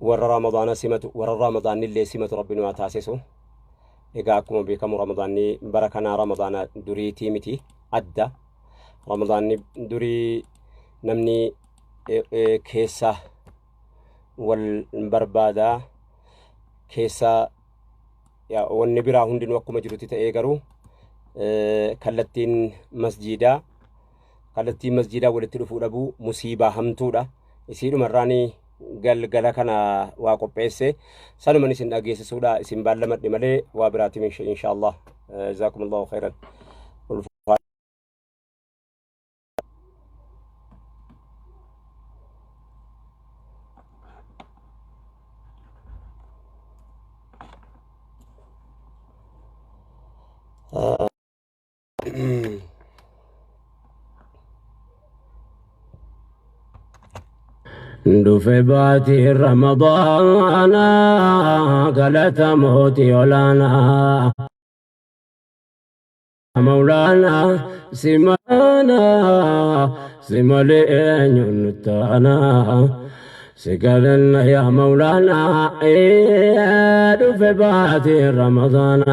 warra ramadaana simatu warra ramadaannillee simatu rabbi nu haa taasisu egaa akkuma beekamu ramadaanni bara kanaa ramadaana duriitii miti adda ramadaanni durii namni eh, eh, keessa wal barbaada keessa yaa, wanni biraa hundinuu akkuma jirutti ta'ee garuu eh, kallattiin masjiidaa Kallattiin masjiidaa walitti dhufuu dhabuu musiibaa hamtuudha. Isiidhuma irraani galgala kana waa qopheesse. Sanuman isin dhageessisuudha. Isin baallamadhe malee waa biraatim inshaallah. Jazaakumullahu khairan. Ulfaa. Uh, Dhufe baatii Ramadaana galata mootii olaanaa. Mawlaana simaana simalee eenyuun taana sigalanna yaa mawlaana ee dhufe baatii Ramadaana.